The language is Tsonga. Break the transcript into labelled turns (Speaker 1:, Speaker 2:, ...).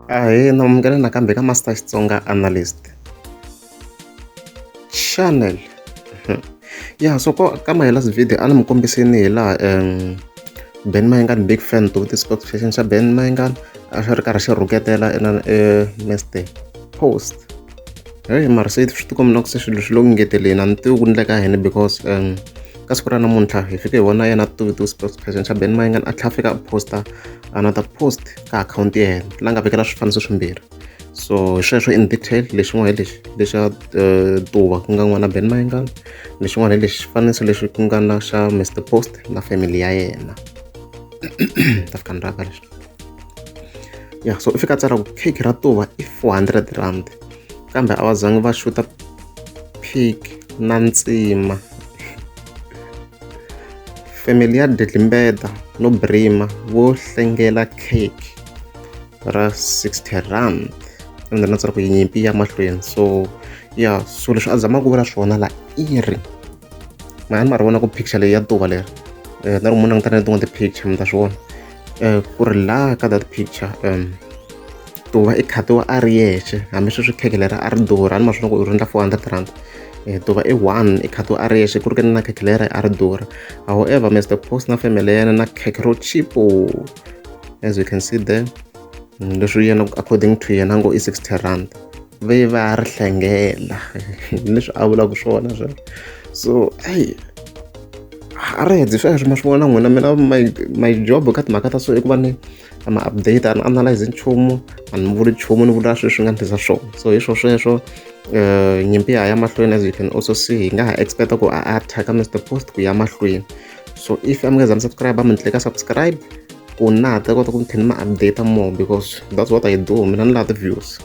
Speaker 1: ahee namukela nakambe ka master xitsonga analyst channel mhm. ya so ko ka my last video a ni mi kombiseni hi laha um ben mayengan big fan to vutisa ka xexeni xa ben mayengan a xi ri karhi xi rhuketela ena e meste post Heyi mara se swi tikomba na ku se swilo swi le ku ngeteleni a ni tivi ku endleka yini because um ka siku ra namuntlha hi fike hi vona yena a tivi spokesperson xa ben mayingani a tlhela a fika a posta another post ka akhawunti ya yena la nga vekela swifaniso swimbirhi so hi sweswo in detail lexin'wana hi lexi lexa eh, tuva ku nga n'wana ben mayingani lexin'wana hi lexi xifaniso lexi ku nga na xa mr post na family ya yena ta fika ni raka leswi ya so i fika tsara ku pick ra tuva i 400 rand kambe a va zangi va xuta pick na ntsima family ya dedlimbeta no brima vo hlengela cake ra 60 rand ende na tsara ku yinyimpi ya mahlweni so ya so leswi a zamaka ku vula swona la i ri mahani ma ri vona ku picture leyi ya tuva leri um na ri mu langutana na tin'wana ti-picture mi ta swi vona um ku ri laha ka that picture um ku va i khatiwa a ri yexe hambi sweswi khekhe lera a ri durha ni maswona ku ri endla four hundred rand eh, to va i one i khatiwa a ri yexe ku ri kene na khekhe lera a ri durha however mr post na family ya yena na khekhe ro chipo as you can see there mm, leswi yena according to yena ngo i sixty rand ve va ri hlengela leswi a vulaka swona sweswo so ayi a ri hete sweswo ma swi vona n'wina mina my my job ka timhaka ta so i ku va ni ma update a ni analyze nchumu a ni vuli nchumu ni vula sweswi nga ndlisa swona so hi swo sweswo um nyimpi ya ya mahlweni as you can also see hi nga ha expecta ku a attacka mr post ku ya mahlweni so if a mi nga za mi subscribe a mi ni ka subscribe ku na ta kota ku ni tlhela ni ma update more because that's what i do mina ni lava ti-views